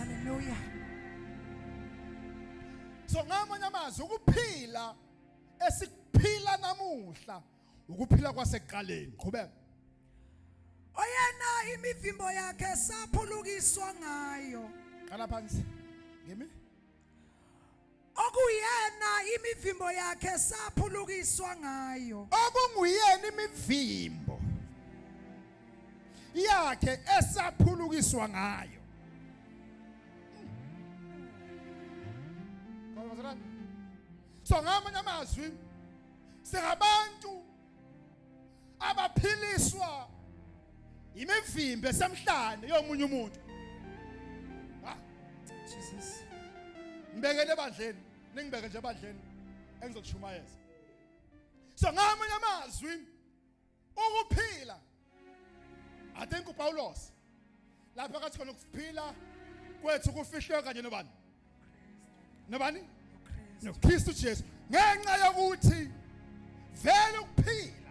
Haleluya. So ngamanye amazwi ukuphila esikuphila namuhla ukuphila kwasekuqaleni qhubeka oyena imivimbo yakhe saphulukiswa ngayo qala phansi ngimi okuyena imivimbo yakhe saphulukiswa ngayo okunguyena imivimbo yakhe esaphulukiswa ngayo so ngamanye amazwi singabantu abaphiliswa imivimbe esemhlane yomunye umuntu ah jesus ngibekele ebandleni ningibeke nje ebandleni engizokushumayeza so ngamanye amazwi ukuphila I think uPawulos lapha kathi khona ukuphila kwethu kufihlwe kanye nobani nobani noKristu Jesu ngenxa yokuthi vele ukuphila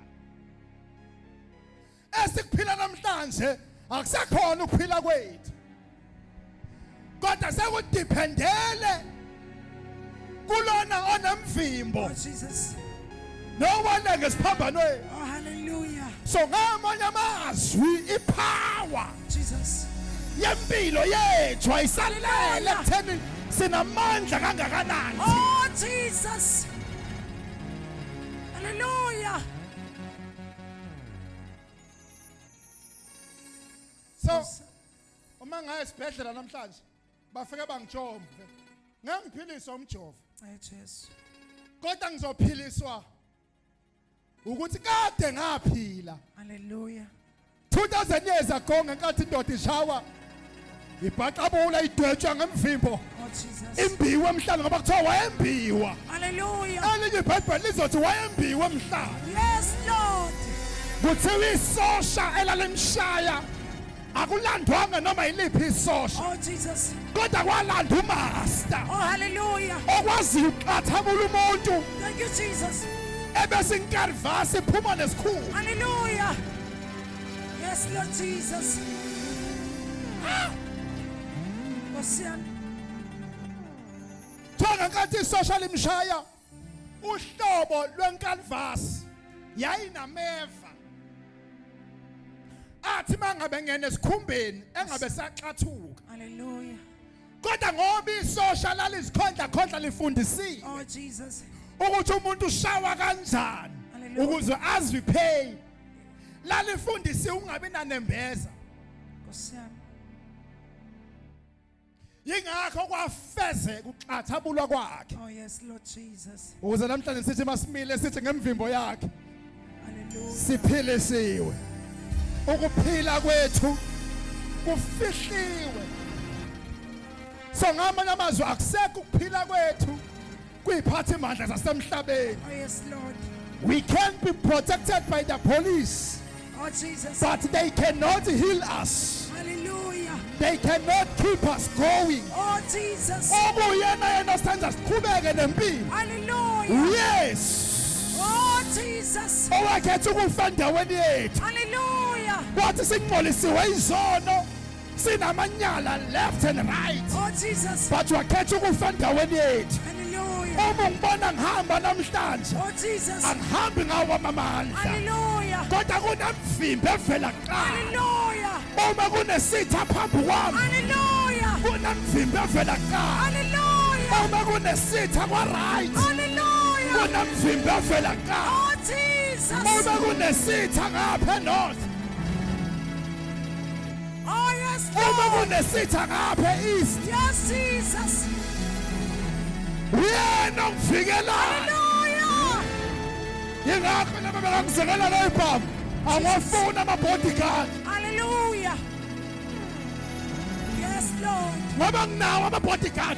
esikuphila namhlanje akusakhona ukuphila kwethu kodwa sekudependele kulona onemvimbo Jesus. nowona ngesiphambanweni Oh, hallelujah. so ngamanye amazwi ipower Jesus. yempilo yethu ayisalele ekutheni sinamandla kangakanani Oh, Jesus. Hallelujah. so uma ngaye esibhedlela namhlanje bafike bangijombe ngeke ngiphiliswe umjovo Ay Jesu. kodwa ngizophiliswa ukuthi kade ngaphila Hallelujah. 2000 years ago ngenkathi indoda ishawa ibhaxabula idwetshwa ngemvimbo Oh Jesus. imbiwe emhlane ngoba kuthiwa wayembiwa Hallelujah. elinye ibhayibheli lizothi wayembiwe emhlane Yes Lord. kuthiwa isosha elalimshaya akulandwanga noma yiliphi isosha oh jesus kodwa kwalanda umaster oh hallelujah okwaziyo ukuqathamula umuntu thank you jesus ebese inkarvasi iphuma nesikhulu hallelujah yes lord jesus ah Nkosi yami Thola ngathi isosha limshaya uhlobo lwenkalvasi yayinameva athi mangabe ngene esikhumbeni engabe saxathuka haleluya kodwa ngoba isosha lalizikhondla khondla lifundisile oh jesus ukuthi umuntu ushawa kanjani ukuze azwe pain lalifundisi ungabi nanembeza nkosiyami Yingakho kwafezeka ukuxathabulwa kwakhe. Oh yes Lord Jesus. Ukuze namhlanje sithi masimile sithi ngemvimbo yakhe. Hallelujah. Siphilisiwe. Ukuphila kwethu kufihliwe. So ngamanye amazwi akusekho ukuphila kwethu. kuyiphathimandla zasemhlabeni Oh, yes, Lord. we can be protected by the police Oh, Jesus. but they cannot heal us Hallelujah. they cannot keep us going Oh, Jesus. obuyena yena senza siqhubeke nempilo Hallelujah. yes Oh, Jesus. owakhetha ukufa endaweni yethu Hallelujah. wathi singcolisiwe izono sinamanyala left and right oh jesus but wakhetha ukufa endaweni yethu hallelujah uma ngibona ngihamba namhlanje oh jesus angihambi ngawo amandla hallelujah kodwa kunemvimbe evela kuqala hallelujah uma kunesitha phambi kwami hallelujah kunemvimbe evela kuqala hallelujah uma kunesitha kwa right hallelujah kunemvimbe evela kuqala oh jesus uma kunesitha ngapha north Oh yes Lord. Uma kunesitha ngapha east. Yes Jesus. Uyena ongivikelayo. Hallelujah. Yingakho laba bengangizekela la ibhamu. Awafuna ama bodyguard. Hallelujah. Yes Lord. Ngoba nginawo ama bodyguard.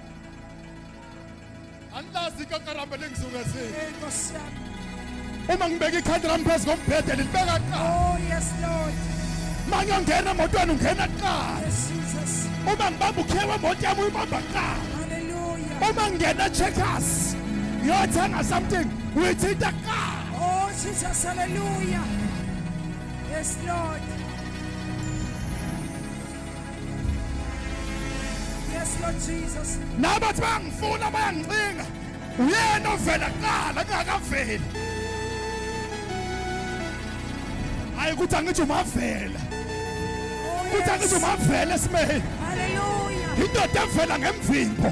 angilazi ikakaramba lengisuke si Hey, Nkosi yami. uma ngibeka ikhadi lami phezu kombhede lilibeka kuqala Oh, yes, Lord. uma ngiyongena emotweni ungena kuqala Yes, Jesus. uma ngibamba ukhiye wemoto yami uyibamba kuqala Hallelujah. uma ngingena checkers ngiyothenga something uyithinta kuqala Oh, Jesus. Hallelujah. Yes, Lord. nabathi bayangifuna bayangicinga uyena ovela kuqala kungakaveli hayi ukuthi angithi umavela ukuthi angithi umavela esimeni indoda evela ngemvimbo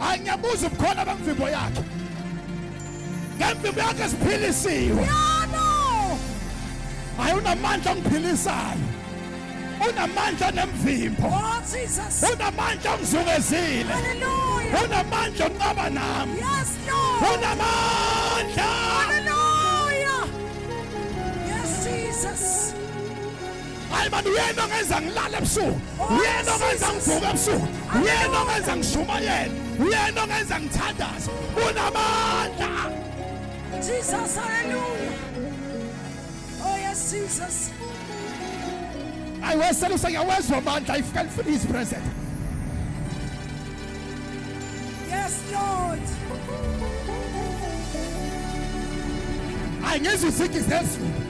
angiyabuza ubukhona bemvimbo yakhe ngemvimbo yakhe siphilisiwe hayi unamandla ongiphilisayo unamandla nemvimbo oh, unamandla ongizungezile unamandla onqaba nami unamandla hayi mani uyena ongenza ngilale ebusuku uyena ongenza ngivuke ebusuku uyena ongenza ngishumayele uyena ongenza ngithandaze unamandla jesus haleluya oh yes jesus ayi wesele usengiyawezwa amandla if can feel his present yes lord ayi ngizwe izigi zezulu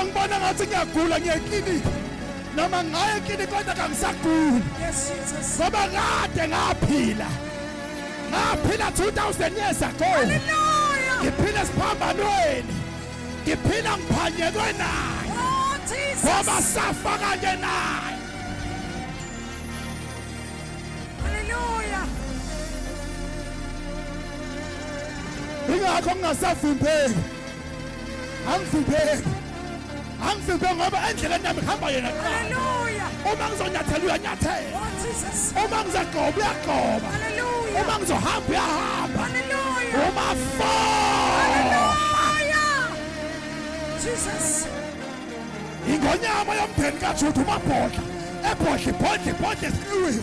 ongibona ngathi ngiyagula ngiya eklinikhi noma ngaye eklinikhi kodwa kangisaguli ngoba kade ngaphila ngaphila 2000 years ago ngiphila esiphambanweni ngiphila ngiphanyekwe naye oh, ngoba safa kanye naye haleluya ingakho ngingasavimbeki angivimbeki angivimbeki ngoba endleleni yami kuhamba yena kuqala uma ngizonyathela uyanyathela oh, uma ngizagqoba uyagqoba uma ngizohamba uyahamba uma fo ingonyama yomndeni kajuda umabhodla ebhodla ibhodla ibhodla esikiwini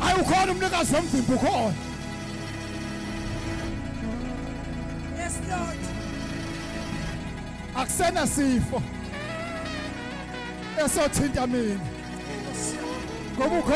Hayi ukhona umnikazi womvimbo ukhona. Yes Lord. Akusena sifo. Esothinta mina. Ngoba ukhona